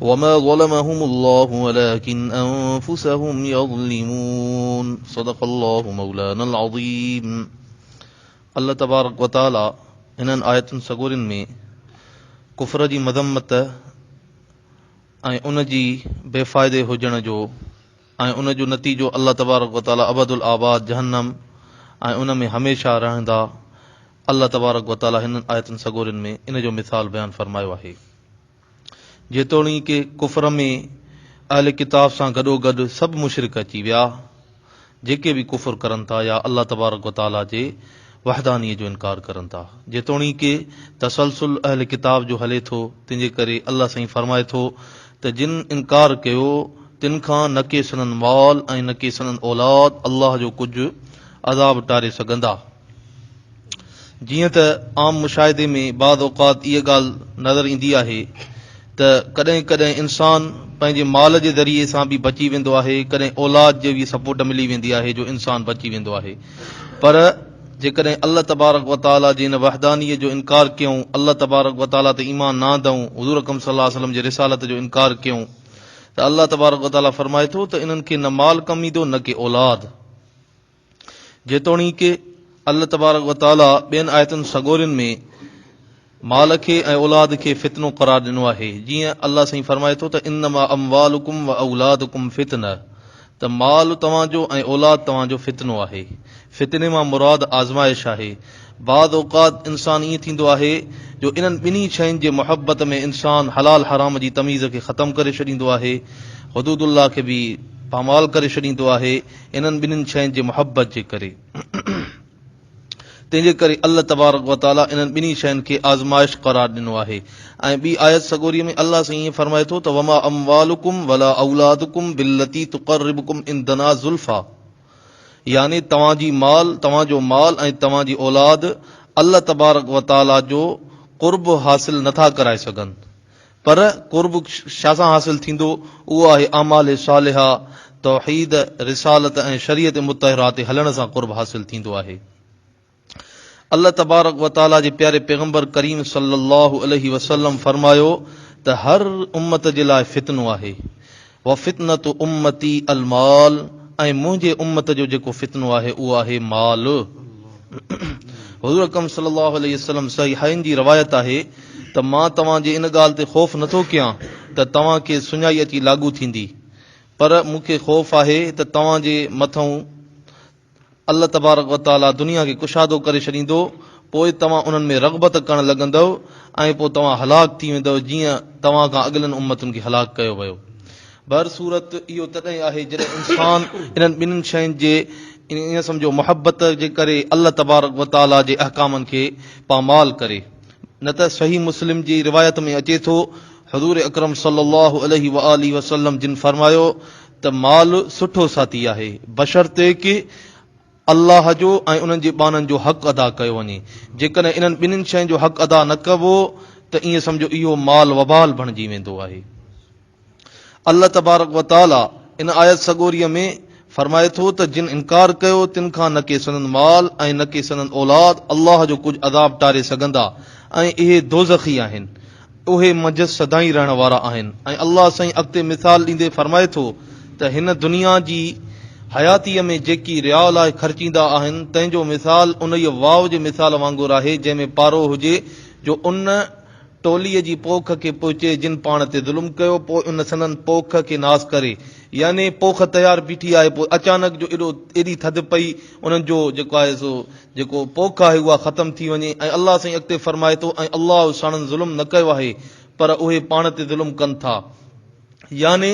وما ظلمهم الله ولكن انفسهم يظلمون صدق الله مولانا العظيم الله تبارڪ وتعالي انهن آيتن سڳورين ۾ ڪفر جي مذمت ۽ ان جي بي فائدي هجڻ جو ۽ ان جو نتيجو الله تبارڪ وتعالي ابد الآباد جهنم ۽ ان ۾ هميشه رهندا الله تبارڪ وتعالي هنن آيتن سڳورين ۾ ان جو مثال بيان فرمايو آهي جيتوڻيڪ ڪفر ۾ اهل ڪتاب سان گڏوگڏ سڀ مشرڪ اچي ويا جيڪي به ڪفر ڪرن ٿا يا الله تبارڪ و تعاليٰ جي وحدانيء جو انڪار ڪرن ٿا. جيتوڻيڪ تسلسل اهل ڪتاب جو هلي ٿو تنهن جي ڪري الله سائين فرمائي ٿو ته جن انڪار ڪيو تن کان نه ڪي سندن مال ۽ نه ڪي سندن اولاد الله جو ڪجهه عذاب ٽاري سگهندا. جيئن ته عام مشاهدي ۾ بعض اوقات اها ڳالهه نظر ايندي آهي ته ڪڏهن ڪڏهن انسان پنهنجي مال جي ذريعي سان به بچي ويندو آهي ڪڏهن اولاد جي به سپورٽ ملي ويندي آهي جو انسان بچي ويندو آهي پر جيڪڏهن الله تبارڪ وتعالي جي ان وحدانيه جو انڪار ڪيون الله تبارڪ وتعالي تي ايمان نه آندئون حضور اڪرم صلي الله عليه وسلم جي رسالت جو انڪار ڪيون ته الله تبارڪ وتعالي فرمائي ٿو ته انهن کي نه مال ڪم ايندو نه ڪي اولاد جيتوڻيڪ الله تبارڪ و تعاليٰ ٻين آيتن سڳورين ۾ مال کي ۽ اولاد کي فتنو قرار ڏنو آهي، جيئن الله سائين فرمائي ٿو ته انما اموالڪم و اولادڪم فتنه ته مال توهان جو ۽ اولاد توهان جو فتنو آهي. فتني مان مراد آزمائش آهي. بعض اوقات انسان ائين ٿيندو آهي جو انهن ٻنهي شين جي محبت ۾ انسان حلال حرام جي تميز کي ختم ڪري ڇڏيندو آهي، حدود الله کي به پامال ڪري ڇڏيندو آهي، انهن ٻنهين شين جي محبت جي ڪري. تنهن جي ڪري الله تبارڪ و تعاليٰ انهن ٻنهين شين کي آزمائش قرار ڏنو آهي ۽ ٻي آيت سڳوريء ۾ الله سائين ائين فرمائي ٿو ته وما اموالڪم ولا اولادڪم بالتي تقربڪم عندنا زلفيٰ يعني توهان جي مال توهان جو مال ۽ توهان جي اولاد الله تبارڪ و تعاليٰ جو قرب حاصل نٿا ڪرائي سگهن پر قرب ڇا سان حاصل ٿيندو؟ اهو آهي اعمال صالحه، توحيد، رسالت ۽ شريعت مطهره تي هلڻ سان قرب حاصل ٿيندو آهي. الله تبارڪ و تعاليٰ جي پياري پيغمبر ڪريم صلي الله عليه وسلم فرمايو ته هر امت جي لاء فتنو آهي. وفتنة امتي المال ۽ منهنجي امت جو جيڪو فتنو آهي اهو آهي مال. حضور اڪرم صلي الله عليه وسلم صحيحين جي روايت آهي ته مان توهان جي ان ڳالهه تي خوف نٿو ڪيان ته توهان کي سڃائي اچي لاڳو ٿيندي پر مون کي خوف آهي ته توهان جي مٿئون الله تبارڪ و تعاليٰ دنيا کي ڪشادو ڪري ڇڏيندو، پوء توهان انهن ۾ رغبت ڪرڻ لڳندؤ ۽ پوء توهان هلاڪ ٿي ويندؤ جيئن توهان کان اڳلين امتن کي هلاڪ ڪيو ويو. بهر صورت اهو تڏهن آهي جڏهن انسان انهن ٻنهن شين جي يعني ائين سمجهو محبت جي ڪري الله تبارڪ و تعاليٰ جي احڪامن کي پامال ڪري. نه ته صحيح مسلم جي روايت ۾ اچي ٿو، حضور اڪرم صلي الله عليه وآله وسلم جن فرمايو ته مال سٺو ساٿي آهي، بشرطيڪ ڪي الله جو ۽ انهن جي ٻانهن جو حق ادا ڪيو وڃي. جيڪڏهن انهن ٻنهين شين جو حق ادا نه ڪبو ته ائين سمجهو اهو مال وبال بڻجي ويندو آهي. الله تبارڪ و تعاليٰ ان آيت سڳوريء ۾ فرمائي ٿو ته جن انڪار ڪيو تن کان نه ڪي سندن مال ۽ نه ڪي سندن اولاد الله جو ڪجهه عذاب ٽاري سگهندا ۽ اهي دوزخي آهن. اهي منجهس سدائين رهڻ وارا آهن ۽ الله سائين اڳتي مثال ڏيندي فرمائي ٿو ته هن دنيا جي حياتيء ۾ جيڪي رياء لاء خرچيندا آهن تنهن جو مثال انهيء واء جي مثال وانگر آهي جنهن ۾ پارو هجي جو ان ٽوليء جي پوک کي پهچي جن پاڻ تي ظلم ڪيو پوء ان سندن پوک کي ناس ڪري يعني پوک تيار بيٺي آهي پوء اچانڪ جو ايڏو ايڏي ٿڌ پئي انهن جو جيڪو آهي سو جيڪو پوک آهي اها ختم ٿي وڃي ۽ الله سائين اڳتي فرمائي ٿو ۽ الله ساڻن ظلم نه ڪيو آهي پر اهي پاڻ تي ظلم ڪن ٿا يعني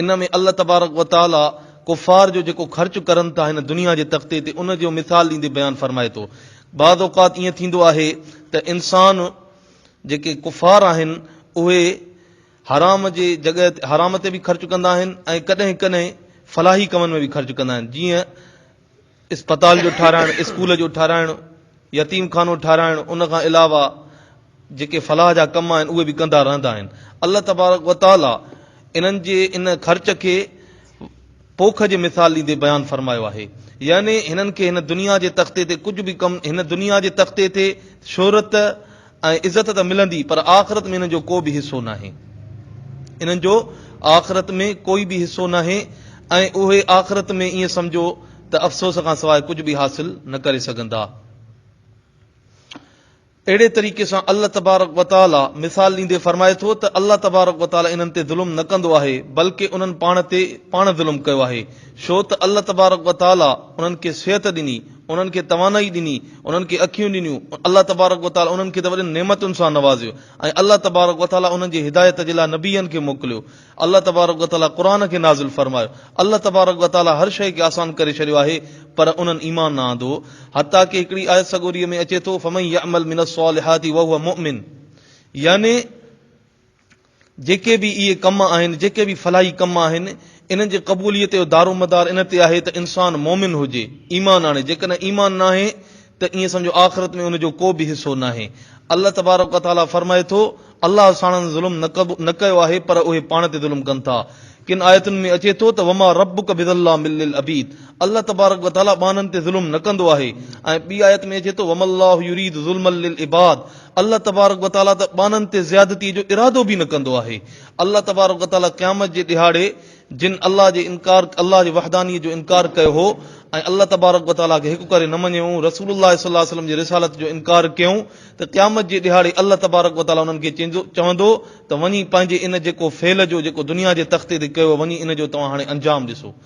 ان ۾ الله تبارڪ وتعالي ڪفار جو جيڪو خرچ ڪرن ٿا هن دنيا جي تختي تي ان جو مثال ڏيندي بيان فرمائي ٿو بعض اوقات ائين ٿيندو آهي ته انسان جيڪي ڪفار آهن اهي حرام جي جڳهه حرام تي به خرچ ڪندا آهن ۽ ڪڏهن ڪڏهن فلاحي ڪمن ۾ به خرچ ڪندا آهن جيئن اسپتال جو ٺاهرائڻ، اسڪول جو ٺاهرائڻ، يتيم خانو ٺاهرائڻ ان کان علاوه جيڪي فلاح جا ڪم آهن اهي به ڪندا رهندا آهن. الله تبارڪ و تعاليٰ انهن جي ان خرچ کي پوک جي مثال ڏيندي بيان فرمايو آهي. يعني هنن کي هن دنيا جي تختي تي ڪجهه به ڪم هن دنيا جي تختي تي شهرت، ۽ عزت ته ملندي پر آخرت ۾ انهن جو ڪو به حصو ناهي. انهن جو آخرت ۾ ڪوئي به حصو ناهي ۽ اهي آخرت ۾ ائين سمجهو ته افسوس کان سواء ڪجهه به حاصل نه ڪري سگهندا. اهڙي طريقي سان الله تبارڪ وتعالي مثال ڏيندي فرمائي ٿو ته الله تبارڪ وتعالي انهن تي ظلم نه ڪندو آهي بلڪه انهن پاڻ تي پاڻ ظلم ڪيو آهي ڇو ته الله تبارڪ وتعالي انهن کي صحت ڏني، انهن کي توانائي ڏني، انهن کي اکيون ڏنيون، الله تبارڪ و تعالي انهن کي ته وڏين نعمتن سان نوازيو ۽ الله تبارڪ و تعالي انهن جي هدايت جي لاء نبين کي موڪليو، الله تبارڪ و تعالي قرآن کي نازل فرمايو، الله تبارڪ و تعالي هر شيء کي آسان ڪري ڇڏيو آهي، پر انهن ايمان نه آندو، حتيٰ ڪه هڪڙي آيت سڳوريء ۾ اچي ٿو، فمن يعمل من الصالحات وهو مؤمن يعني جيڪي به اهي ڪم آهن، جيڪي به فلاحي ڪم آهن، انهن جي قبوليت جو دارومدار ان تي آهي ته انسان مؤمن هجي، ايمان آڻي، جيڪڏهن ايمان ناهي ته ائين سمجهو آخرت ۾ ان جو ڪو به حصو ناهي. الله تبارڪ و تعاليٰ فرمائي ٿو، الله ساڻن ظلم نه ڪيو آهي پر اهي پاڻ تي ظلم ڪن ٿا. ڪن آيتن ۾ اچي ٿو ته وما ربک بظلام للعبيد الله تبارڪ و تعاليٰ ٻانهن تي ظلم نه ڪندو آهي ۽ ٻي آيت ۾ اچي ٿو وما الله يريد ظلما للعباد الله تبارڪ و تعاليٰ ته ٻانهن تي زيادتيء جو ارادو به نه ڪندو آهي. الله تبارڪ و تعاليٰ قيامت جي ڏهاڙي جن الله جي انڪار الله جي وحدانيت جو انڪار ڪيو هو ۽ الله تبارڪ و تعاليٰ کي هڪ ڪري نه مڃيون، رسول الله صلي الله عليه وسلم جي رسالت جو انڪار ڪيون ته قيامت جي ڏهاڙي الله تبارڪ و تعاليٰ انهن کي چوندو ته وڃي پنهنجي ان جيڪو فعل جو جيڪو دنيا جي تختي تي ڪيو وڃي ان جو توهان هاڻي انجام ڏسو.